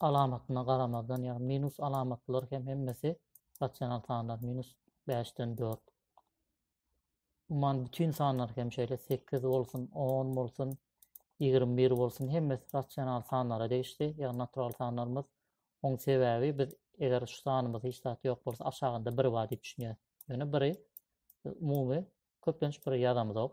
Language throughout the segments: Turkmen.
alamatyna garamazdan, ýagny minus alamatlar hem hemmesi rasional sanlar, minus bäşden dört. Umuman bütin sanlar hem şeýle sekiz bolsun, on bolsun, ýigrimi bir bolsun, hemmesi rasional sanlara degişli, ýagny natural sanlarymyz. Oň sebäbi biz eger şu sanymyz hiç zat ýok bolsa aşagynda bir bar diýip düşünýäs. Ýöne biri umumy köplenç bir ýazamyzok.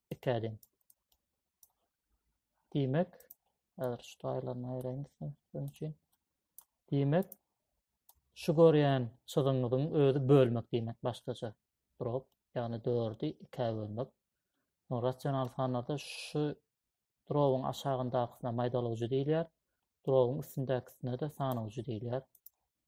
Ikäden. Diýmek, häzir şu taýlaryny aýraýyn düşünmek üçin. Diýmek, şu görýän çyzygyňyzyň özi bölmek diýmek başgaça. Drop, ýagny 4-i 2-ä bölmek. No, rasional sanlarda şu drobyň aşagyndakysyna maýdalawjy diýilýär. Drobyň üstündäkisine-de sanawjy diýilýär.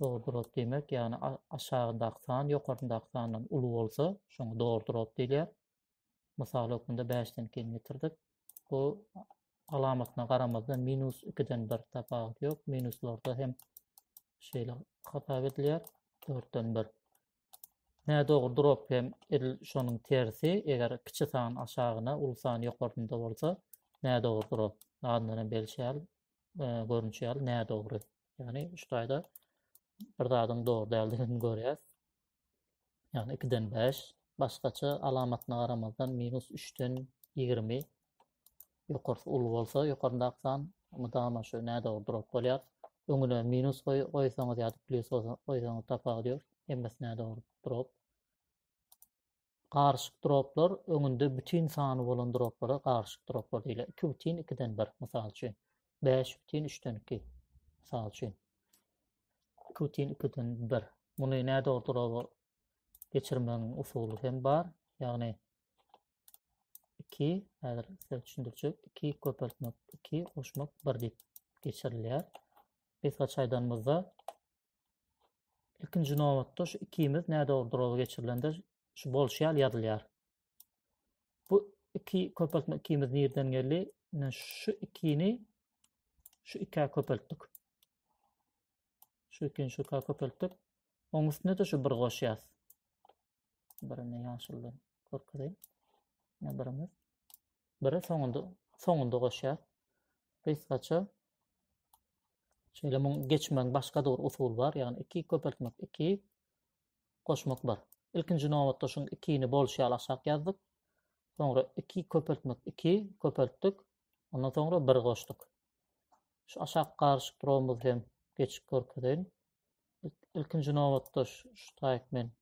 Dogrudyr-ot diýmek, ýagny aşagyndaky san ýokaryndaky sandan uly bolsa, şoňa dogrudyr-ot diýilýär. Mysal hökmünde 5-den ikini getirdik. Bu alamatyna garamazdan minus 2-den 1 tapawut ýok. Minuslarda hem şeýle hasap edilýär. 4-den 1. Nä dogrudyr ot hem edil şonuň tersi, eger kiçi san aşagyna, uly san ýokarynda bolsa, nä dogrudyr ot. Adyndan hem belli şäl, görünýär, nä dogry. Yani şu taýda bir zadyň dogry däldigini görýäs. Yani 2-den 5, başgaça alamatyna garamazdan minus 3-den 20 ýokarsy uly bolsa, ýokaryndaky san mydama şu nädogry durup bolýar. Öňüne minus goý, goýsaňyz ýa-da plyus goýsaňyz tapawudy ýok. Hemmesi nädogry durup. Garyşyk droplar öňünde bütin sany bolan droplara garyşyk droplar diýilýär. Iki bütin ikiden bir, mysal üçin. Bäş bütin üçden iki, mysal üçin. Iki bütin ikiden bir. Muny nädogry droba geçirmegiň usuly hem bar. Ýagny, iki, häzir size düşündirjek, iki köpeltmek, iki goşmak, bir diýip geçirilýär. Biz gaçaýdanymyzda Ilkinji nobatda şu ikimiz nädogry durazy geçirilende şu bolşy ýaly ýazylýar. Bu iki köpeltme ikimiz nirden geldi? Ine şu ikini şu ikä köpeltdik. Şu ikini şu ikä köpeltdik. Oň üstüne de şu bir goşýas. Birini ýaşyldan görkezeyim. Ne birimiz. Biri soňunda soňunda goşýar. Gysgaça şeýle muň geçmegiň başga bir usuly bar. Ýagny 2 köpeltmek 2 goşmak 1. Ilkinji nobatda şuň 2-ni bolşy ýaly aşak ýazdyk. Soňra 2 köpeltmek 2 köpeltdik. Ondan soňra 1 goşduk. Şu aşak garyşyk durumumyz hem geçip görkezeýin. Ilkinji nobatda şu taýyk men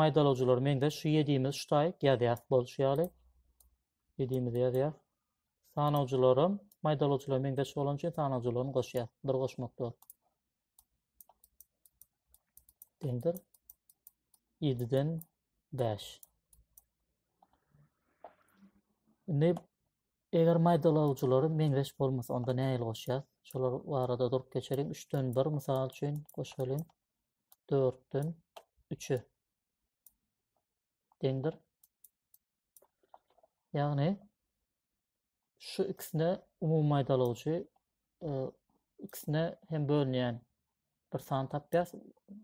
maýdalawjylary meňzeş şu ýediýimiz ştaýk ýazýas bolşy ýaly ýediýimizi ýazýas sanawjylaram maýdalawjylara meňzeş bolany üçin sanawjylaryny goşýas bir goşmak dört deňdir ýediden bäş indi eger maýdalawjylary meňzeş bolmasa onda nähili goşýas şolar barada durup geçeliň üçden bir mysal üçin goşalyň dörtden üçe deňdir. Ýagny şu ikisine umumy maýdalygyjy e, ikisine hem bölünýän bir san tapýas.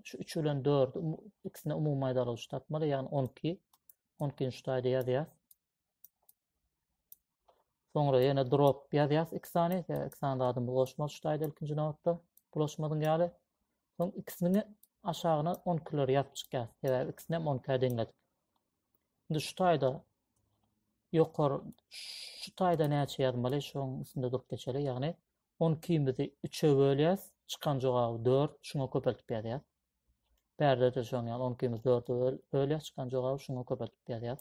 Şu 3 bilen 4 ikisine umumy maýdalygyjy tapmaly, ýagny 12. 12-nji taýda ýazýas. Soňra ýene drop ýazýas iki sany, iki sany zadyň bulaşmaly ştaýda ilkinji nobatda bulaşmadyň ýaly. Soň ikisini aşagyna 10 kiler ýazyp çykýar. Sebäbi ikisini hem 10 kiler deňledik. Indi şu taýda ýokar şu taýda näçe ýazmaly şoň üstünde durup geçeli. Ýagny 10 kimizi 3-e bölýäs, çykan jogaby 4, şuňa köpeltip ýazýas. Bärde de şoň ýaly 10 kimizi 4-e bölýäs, çykan jogaby şuňa köpeltip ýazýas.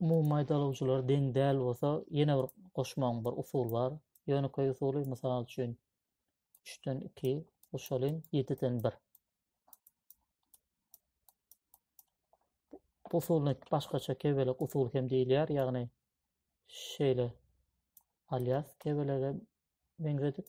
Umumy maýdalyjylar deň däl bolsa, ýene bir goşmagyň bir usuly bar. Ýönekeý usuly, mysal üçin, üçden iki goşalyň, ýediden bir. Bu usulyny başgaça kebelek usuly hem diýilýär, ýagny şeýle alýas kebelege meňzedip,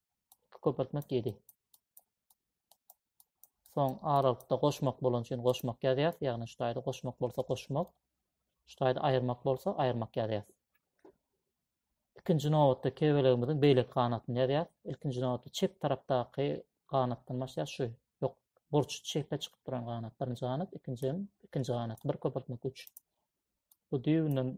2 köpeltmek 7. Soň aralykda goşmak bolan üçin goşmak ýazýas. Ýagny şu taýda goşmak bolsa goşmak. Şu taýda aýyrmak bolsa aýyrmak ýazýas. Ikinji nobatda kebelegimiziň beýleki ganatyny ýazýas. Ilkinji nobatda çep tarapdaky ganatdan başlaýas. Şu ýok burç çepe çykyp duran ganat birinji ganat, ikinji ikinji ganat. Bir köpeltmek 3. Bu düýbünden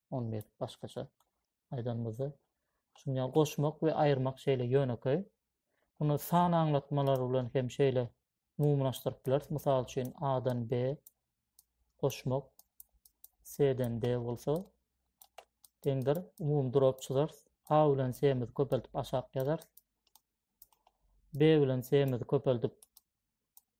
on bir başgaça aýdanymyzda şuňa goşmak we aýyrmak şeýle ýönekeý muny san aňlatmalary bilen hem şeýle umumylaşdyryp bileris mysal üçin a dan b goşmak c dan d bolsa deňdir umumy durap çyzarys a bilen c mizi köpeldip aşak ýazarys b bilen c mizi köpeldip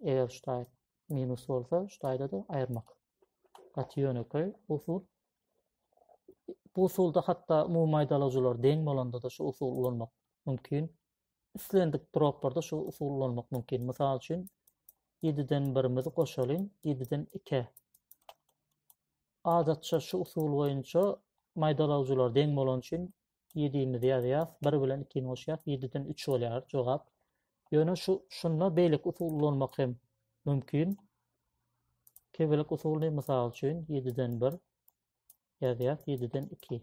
Eger şu taýda minus bolsa, şu taýda-da aýyrmak. Gaty ýönekeý usul. Bu usulda hatda umumy aýdalajylar deň bolanda-da şu usul ulanmak mümkin. Islendik droplarda şu usul ulanmak mümkin. Mysal üçin, 7-den 1-mizi goşalyň, 7-den 2. Adatça şu usul boýunça maýdalawjylar deň bolany üçin ýedimizi ýazýas, bir bilen ikini goşýas, ýediden üç bolýar jogap. Ýöne şu şunda beýleki usul ulanmak hem mümkin. Kebelik usulyny mysal üçin ýediden bir ýazýas, ýediden iki.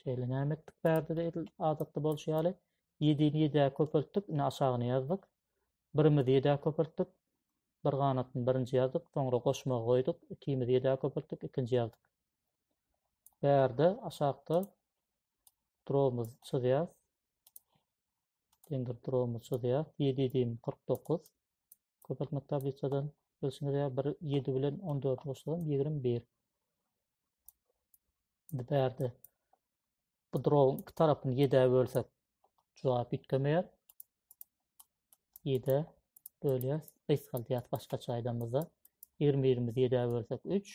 Şeýle näme etdik bärde-de edil adatda bolşy ýaly. Ýedini ýedä köpeltdik, indi aşagyny ýazdyk. Birimizi ýedä köpeltdik. Bir ganatyny birinji ýazdyk, soňra goşmagy goýduk. Ikimizi ýedä köpeltdik, ikinji ýazdyk. Bärde aşakda durumyz çyzýas. Deňdir durumyz çyzýas. 7 7 49. Köpeltmek tablisadan bilşiňiz ýaly bir ýedi bilen on dördi goşsam ýigrimi bir. Indi bärde bu drowyň iki tarapyny ýedä bölsek jogap üýtgemeýär. Ýedä bölýäs. Gysgaldýas başgaça aýdamyzda. Ýigrimi birimizi ýedä bölsek üç.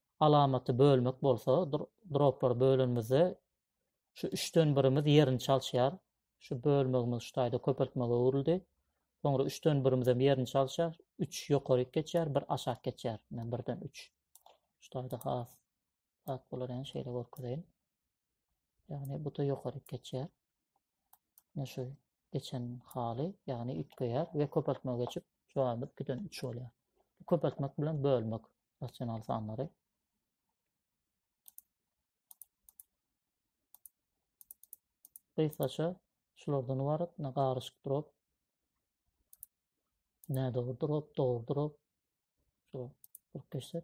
alamaty bölmek bolsa, droplary bölenimizde şu üçden birimiz ýerini çalşýar. Şu bölmegimiz şu taýda köpeltmege öwrüldi. Soňra üçden birimiz hem ýerini çalşýar. 3 ýokaryk geçýär, 1 aşak geçýär. Men birden 3. Şu taýda has zat bolar, ýa şeýle görkezeýin. Ýagny bu da ýokaryk geçýär. Ne şu geçen haly, ýagny üýtgeýär we köpeltmä geçip, şu anda 2-den 3 bolýar. Köpeltmek bilen bölmek rasional sanlary. Gysgaça şulardan ibarat, ne garyşyk drop, ne dogry drop, dogry drop. Şu bir geçsek,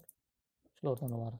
şulardan ibarat.